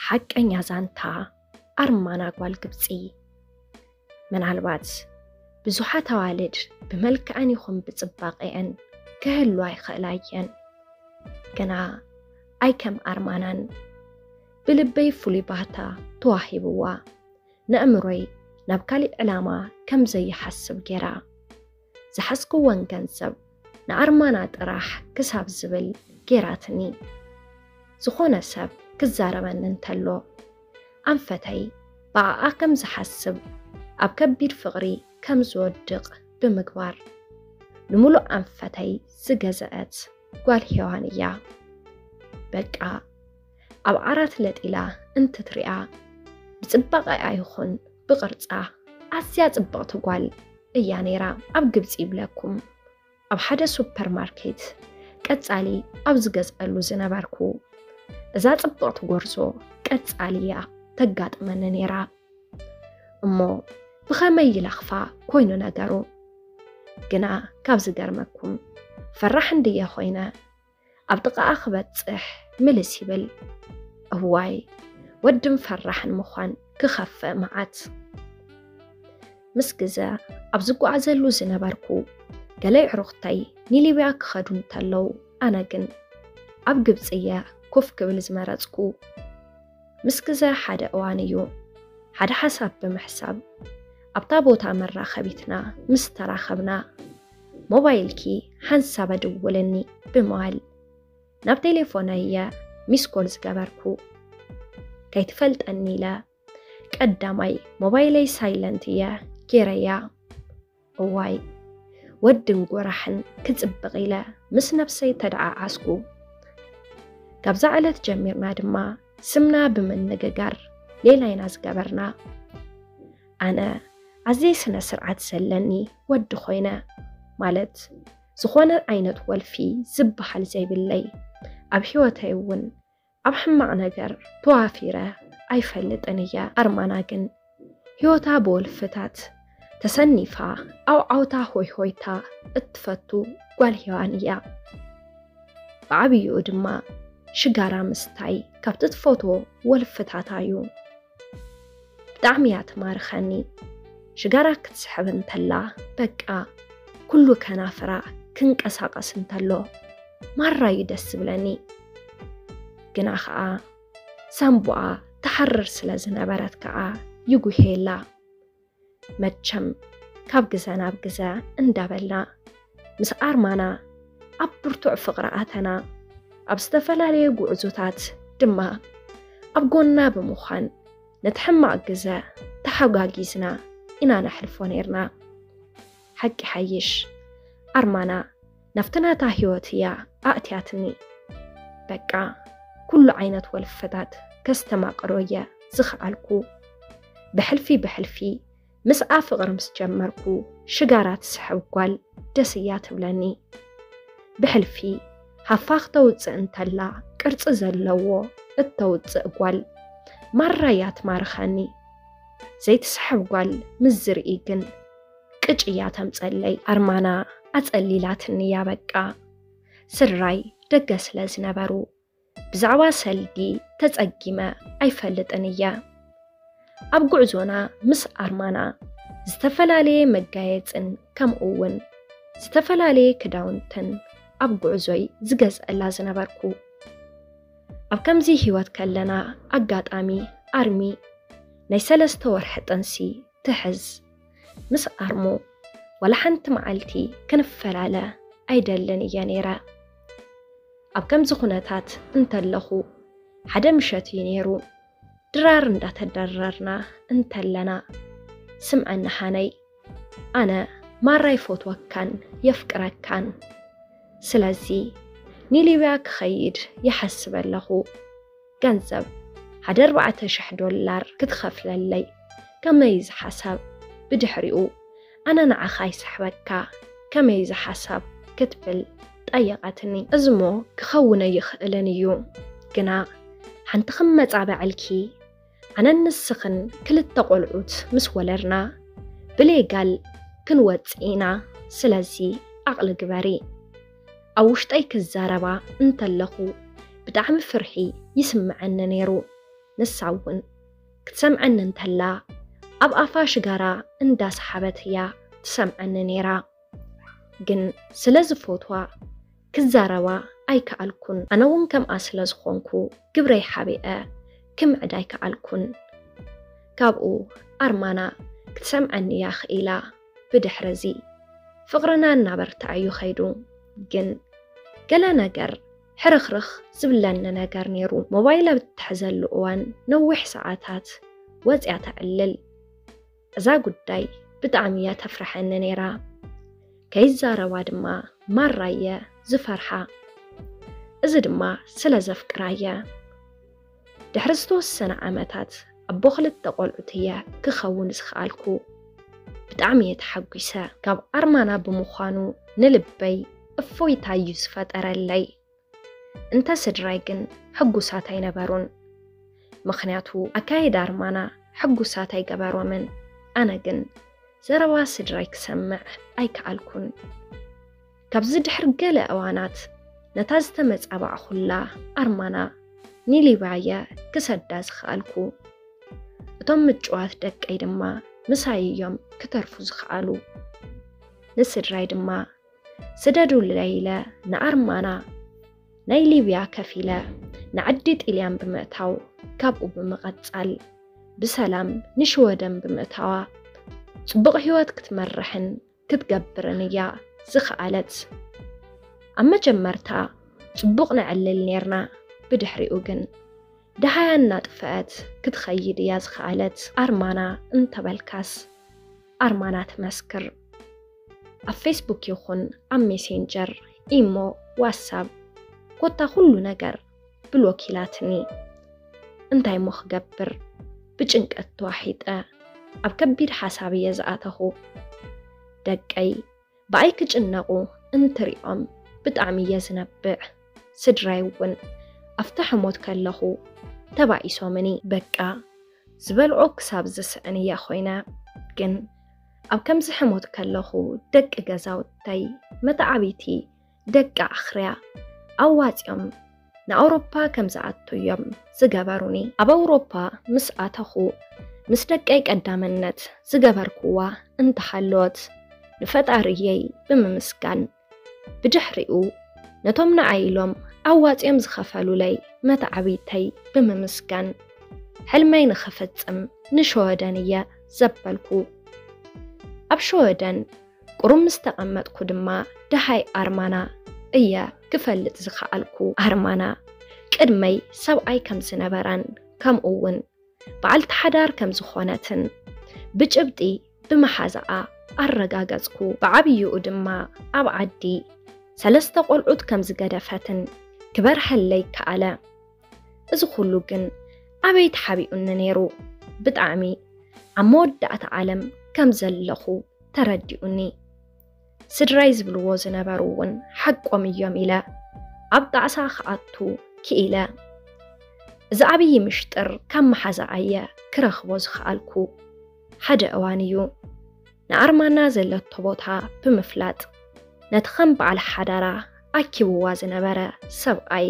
ሓቀኛ ዛንታ ኣርማና ጓል ግብጺ። ምናልባት ብዙሓት ኣዋልድ ብመልክዐን ይኹን ብጽባቐኤን ክህሉ ኣይኽእላ እየን፣ ግና ኣይከም ኣርማናን ብልበይ ፍሉይ ባህታ ተዋሂብዋ፣ ነእምሮይ ናብ ካሊእ ዕላማ ከም ዘይሓስብ ጌራ። ዝሓዝክወን ገንዘብ ንኣርማና ጥራሕ ክሳብ ዝብል ገይራትኒ። ዝኾነ ሰብ ክዛረበኒ እንተሎ ኣንፈተይ ብኣኣ ከም ዝሓስብ ኣብ ከቢድ ፍቕሪ ከም ዝወድቕ ብምግባር ንምሉእ ኣንፈተይ ዝገዘአት ጓል ሄዋን እያ። በቃ ኣብ ዓራት ለጢላ እንትትሪኣ ብፅባቐኣ ይኹን ብቕርፃ ኣዝያ ፅብቕቲ ጓል እያ ነይራ። ኣብ ግብፂ ይብለኩም ኣብ ሓደ ሱፐር ማርኬት ቀፃሊ ኣብ ዝገዝኣሉ ዝነበርኩ እዛ ፅብቕቲ ጎርዞ ቀፃሊ እያ ተጋጥመኒ ነይራ። እሞ ብኸመይ ይለኽፋ ኮይኑ ነገሩ ግና ካብ ዝገርመኩም ፈራሕ እንድየ ኮይነ ኣብ ጥቓኣ ክበጽሕ ምልስ ይብል። እዋይ ወድን ፈራሕን ምዃን ክኸፍእ መዓት። ምስ ግዘ ኣብ ዝጓዓዘሉ ዝነበርኩ ገለ ኣዕሩኽተይ ንሊብያ ክኸዱ እንተለዉ ኣነ ግን ኣብ ግብፂ እየ ኮፍ ክብል ዝመረፅኩ። ምስ ግዘ ሓደ እዋን እዩ ሓደ ሓሳብ ብምሕሳብ ኣብታ ቦታ መራኸቢትና ምስ ተራኸብና ሞባይልኪ ሓንሳበ ደወለኒ ብምባል ናብ ቴሌፎነይ እየ ሚስኮል ዝገበርኩ። ከይትፈልጠኒ ኢለ ቀዳማይ ሞባይለይ ሳይለንት እየ ጌረያ። እዋይ ወድን ጎራሕን ክጽብቕ ኢለ ምስ ነብሰይ ተደዓዓስኩ። ካብዛ ዕለት ጀሚርና ድማ ስምና ብምንግጋር ሌላ ኢና ዝገበርና ኣነ ኣዘይ ስነ ስርዓት ዘለኒ ወዲ ኮይነ ማለት ዝኾነ ዓይነት ወልፊ ዝበሃል ዘይብለይ ኣብ ህይወተይ እውን ኣብ ሕማቕ ነገር ተዋፊረ ኣይፈልጥን እየ። ኣርማና ግን ህይወታ ብወልፍታት ተሰኒፋ ኣውዓውታ ሆይሆይታ እትፈቱ ጓል ሄዋን እያ። ብዓብይኡ ድማ ሽጋራ ምስታይ ካብቲ ትፈትዎ ወልፍታታ እዩ። ብጣዕሚ እያ ትማርኸኒ። ሽጋራ ክትስሕብ እንተላ በቃ ኩሉ ከናፍራ ክንቀሳቐስ እንተሎ ማራ እዩ ደስ ዝብለኒ ግና ኸኣ ሳንቡኣ ትሓርር ስለ ዝነበረት ከኣ ይጉሄላ። መቸም ካብ ግዘ ናብ ግዘ እንዳበልና ምስ ኣርማና ኣብ ብርቱዕ ፍቕሪ ኣተና። ኣብ ዝተፈላለየ ጉዕዞታት ድማ ኣብ ጎና ብምዃን ነቲ ሕማቕ ግዘ ተሓጋጊዝና ኢና ነሕልፎ ነይርና። ሓቂ ይሓይሽ ኣርማና ናብቲ ናታ ህይወት እያ ኣእትያትኒ። በቃ ኩሉ ዓይነት ወልፈታት ከስተማቕሮ እየ ዝኸኣልኩ። ብሕልፊ ብሕልፊ ምስኣ ፍቕሪ ምስ ጀመርኩ ሽጋራ ትስሕብ ጓል ደስ እያ ትብለኒ። ብሕልፊ ሃፋ ክተውፅእ እንተላ ቅርፂ ዘለዎ እተውፅእ ጓል ማራ እያ ትማርኸኒ። ዘይትስሕብ ጓል ምስ ዝርኢ ግን ቅጭ እያ ተምፀለይ ኣርማና ኣፀሊላትኒ እያ በቃ ስድራይ ደገ ስለ ዝነበሩ ብዛዕባ ሰልዲ ተፀጊመ ኣይፈልጥን እየ ኣብ ጉዕዞና ምስ ኣርማና ዝተፈላለየ መጋየፅን ከምኡ እውን ዝተፈላለየ ክዳውንትን ኣብ ጉዕዞይ ዝገዝአላ ዝነበርኩ ኣብ ከምዚ ህይወት ከለና ኣጋጣሚ ኣርሚ ናይ ሰለስተ ወርሒ ጥንሲ ትሕዝ ምስ ኣርሙ ዋላ ሓንቲ መዓልቲ ክንፈላለ ኣይደልን እየ ነይረ። ኣብ ከምዚ ኩነታት እንተለኹ ሓደ ምሸት እዩ ነይሩ ድራር እንዳተደረርና እንተለና ስምዐኒ ሃነይ ኣነ ማራ ይፎትወካን የፍቅረካን ስለዚ ንሊብያ ክኸይድ ይሓስብ ኣለኹ ገንዘብ ሓደ ኣርባዕተ ሽሕ ዶላር ክትኸፍለለይ ከመይ እዚ ሓሳብ ብድሕሪኡ ኣነ ንዓኻ ይስሕበካ ከመይ እዚ ሓሳብ ክትብል ጠየቐትኒ። እዝሞ ክኸውን ኣይኽእልን እዩ ግና ሓንቲ ክመጻበዐልኪ ኣነን ንስኽን ክልተ ቆልዑት ምስ ወለድና ብሌጋል ክንወጽእ ኢና ስለዚ ዓቕሊ ግበሪ። ኣብ ውሽጠይ ክዛረባ እንተለኹ ብጣዕሚ ፍርሒ ይስመዐኒ ነይሩ። ንሳ እውን ክትሰምዐኒ እንተላ ኣብ ኣፋ ሽጋራ እንዳሰሓበት እያ ትሰምዐኒ ነይራ። ግን ስለዝፎትዋ ክዛረባ ኣይከኣልኩን። ኣነ እውን ከምኣ ስለዝኾንኩ ግብረይ ሓቢኤ ክምዕድ ኣይከኣልኩን። ካብኡ ኣርማና ክትሰምዐኒ እያ ክኢላ። ብድሕሪ እዚ ፍቕርና እናበርትዐ እዩ ከይዱ። ግን ገለ ነገር ሕርኽርኽ ዝብለኒ ነገር ነይሩ። ሞባይል ኣብ እትሕዘሉ እዋን ነዊሕ ሰዓታት ወፂኣ ተዕልል። እዛ ጉዳይ ብጣዕሚ እያ ተፍርሐኒ ነይራ። ከይዛረባ ድማ ማራ እየ ዝፈርሓ። እዚ ድማ ስለ ዘፍቅራ እየ። ድሕሪ ዝተወሰነ ዓመታት ኣቦ ክልተ ቆልዑት እየ ክኸውን ዝኸኣልኩ። ብጣዕሚ እየ ተሓጒሰ። ካብ ኣርማና ብምዃኑ ንልበይ እፎይታ እዩ ዝፈጠረለይ። እንተ ስድራይ ግን ሕጉሳት ኣይነበሩን። ምኽንያቱ ኣካይዳ ኣርማና ሕጉሳት ኣይገበሮምን። ኣነ ግን ዘረባ ስድራይ ክሰምዕ ኣይከኣልኩን። ካብዚ ድሕሪ ገለ እዋናት ነታ ዝተመጻባዕኹላ ኣርማና ንሊብያ'የ ክሰዳ ዝኸኣልኩ። እቶም ምጭዋት ደቀይ ድማ ምሳይ'ዮም ክተርፉ ዝኸኣሉ። ንስድራይ ድማ ስደዱለይ ኢለ ንኣርማና ናይ ሊብያ ከፊለ ንዓዲ ጢልያን ብምእታው ካብኡ ብምቐጻል ብሰላም ንሽወደን ብምእታዋ ጽቡቕ ህይወት ክትመርሕን ክትገብርን እያ ዝኸኣለት። ኣብ መጀመርታ ጽቡቕ ነዕልል ኔርና፣ ብድሕሪኡ ግን ደሃያ እናጥፍአት ክትኸይድ እያ ዝኸኣለት። ኣርማና እንተበልካስ ኣርማና ትመስክር። ኣብ ፌስቡክ ይኹን ኣብ ሜሴንጀር፣ ኢሞ፣ ዋትሳብ ኮታ ኩሉ ነገር ብሎክ ኢላትኒ። እንታይ እሞ ክገብር ብጭንቀት ተዋሒጠ ኣብ ከቢድ ሓሳብ እየ ዝኣተኹ። ደቀይ ብኣይ ክጭነቑ እንትሪኦም ብጣዕሚ እየ ዝነብዕ። ስድራይ እውን ኣብቲ ሕሞት ከለኹ ተባኢሶምኒ። በቃ ዝበልዖ ክሳብ ዝስእን እየ ኮይነ። ግን ኣብ ከምዚ ሕሞት ከለኹ ደቂ ገዛውተይ፣ መተዓብይቲ፣ ደቂ ኣኽርያ ኣዋጺኦም ንኣውሮፓ ከም ዝኣቱ እዮም ዝገበሩኒ። ኣብ ኣውሮፓ ምስ ኣተኹ ምስ ደቀይ ቀዳመነት ዝገበርክዋ እንተሃለወት ንፈጣሪየይ ብምምስጋን ብድሕሪኡ ነቶም ንዓይ ኢሎም ኣዋጺኦም ዝኸፈሉለይ መተዓብይተይ ብምምስጋን ሕልመይ ንኽፍጽም ንሸወደን እየ ዘበልኩ። ኣብ ሸወደን ቁሩብ ምስ ተቐመጥኩ ድማ ደሃይ ኣርማና እየ ክፈልጥ ዝኸኣልኩ። ኣርማና ቅድመይ ሰብኣይ ከም ዝነበራን ከምኡ'ውን በዓልቲ ሓዳር ከም ዝኾነትን ብጭብጢ ብመሓዛኣ ኣረጋገጽኩ። ብዓብይኡ ድማ ኣብ ዓዲ ሰለስተ ቆልዑት ከም ዝገደፈትን ክበርሀለይ ከኣለ። እዚ ኩሉ ግን ኣበይ ተሓቢኡኒ ነይሩ? ብጣዕሚ ኣብ መወዳእታ ዓለም ከም ዘለኹ ተረዲኡኒ። ስድራይ ዝብልዎ ዝነበሩ እውን ሓቆም እዮም ኢለ ኣብ ጣዕሳ ክኣቱ ክኢለ። እዚ ዓብዪ ምሽጥር ካብ መሓዛ ኣየ ክረኽቦ ዝኸኣልኩ። ሓደ እዋን እዩ ንኣርማና ዘለቶ ቦታ ብምፍላጥ ነቲ ከም በዓል ሓዳራ ኣኪብዋ ዝነበረ ሰብኣይ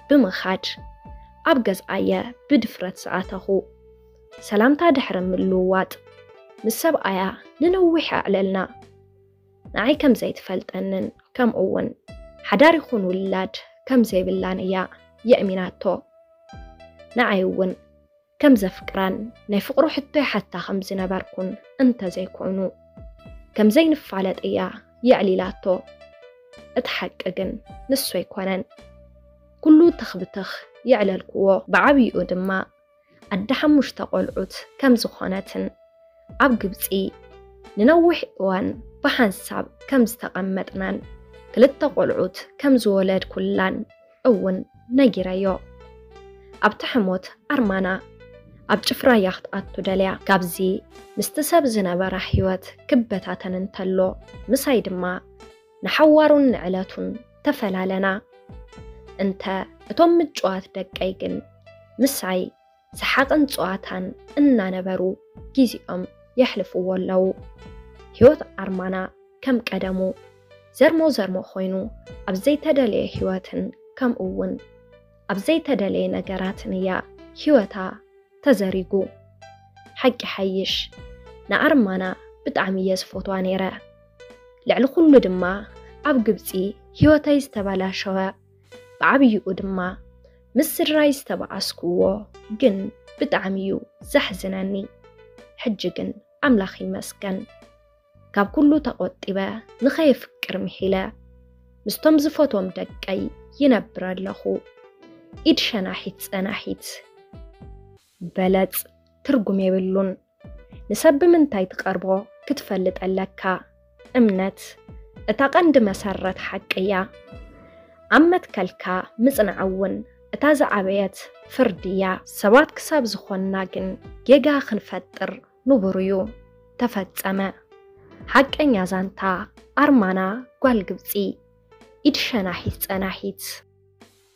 ብምኻድ ኣብ ገዝኣየ ብድፍረት ዝኣተኹ። ሰላምታ ድሕሪ ምልውዋጥ፣ ምስ ሰብኣያ ንነዊሕ ኣዕለልና። ንዓይ ከም ዘይትፈልጠንን ከምኡ'ውን ሓዳር ይኹን ውላድ ከም ዘይብላን እያ የእሚናቶ። ንዓይ'ውን ከም ዘፍቅራን ናይ ፍቕሩ ሕቶ ይሓታ ከም ዝነበርኩን እንተ ዘይኮይኑ፣ ከም ዘይንፋለጥ እያ የዕሊላቶ። እቲ ሓቂ ግን ንሱ ኣይኮነን ኩሉ ትኽ ብትኽ የዕለልኩዎ። ብዓብይኡ ድማ ኣደ ሓሙሽተ ቆልዑት ከም ዝኾነትን ኣብ ግብጺ ንነዊሕ እዋን ብሓንሳብ ከም ዝተቐመጥናን ክልተ ቆልዑት ከም ዝወለድኩላን እውን ነጊረዮ። ኣብቲ ሕሞት ኣርማና ኣብ ጭፍራ እያ ክትኣቱ ደልያ። ካብዚ ምስቲ ሰብ ዝነበራ ህይወት ክበታተን እንተሎ ምሳይ ድማ ንሓዋሩን ንዕለቱን ተፈላለና። እንተ እቶም ምጭዋት ደቀይ ግን ምሳይ ሰሓቕን ጸዋታን እናነበሩ ጊዜኦም የሕልፍዎ ኣለዉ። ህይወት ኣርማና ከም ቀደሙ ዘርሞ ዘርሞ ኮይኑ ኣብ ዘይተደለየ ህይወትን ከምኡ'ውን ኣብ ዘይተደለየ ነገራትን እያ ህይወታ ተዘሪጉ። ሓቂ ሓይሽ ንኣርማና ብጣዕሚ እየ ዝፈትዋ ነይረ። ልዕሊ ኩሉ ድማ ኣብ ግብፂ ህይወተይ ዝተበላሸወ ብዓብይኡ ድማ ምስ ስድራይ ዝተበኣስኩዎ ግን ብጣዕሚ እዩ ዘሕዝነኒ። ሕጂ ግን ኣምላኽ ይመስገን ካብ ኩሉ ተቖጢበ ንኸየፍቅር ምሒለ ምስቶም ዝፈትዎም ደቀይ ይነብር ኣለኹ። ኢድ ሸናሒት ፀናሒት። በለጽ ትርጉም የብሉን ንሰብ ብምንታይ ትቀርቦ ክትፈልጥ ኣለካ እምነት እታ ቀንዲ መሰረት ሓቂ እያ ኣብ መትከልካ ምጽናዕ እውን እታ ዝዓበየት ፍርዲ እያ። ሰባት ክሳብ ዝኾንና ግን ጌጋ ክንፈጥር ንቡር እዩ። ተፈጸመ። ሓቀኛ ዛንታ ኣርማና ጓል ግብጺ ኢድ ሸናሒት ጸናሒት።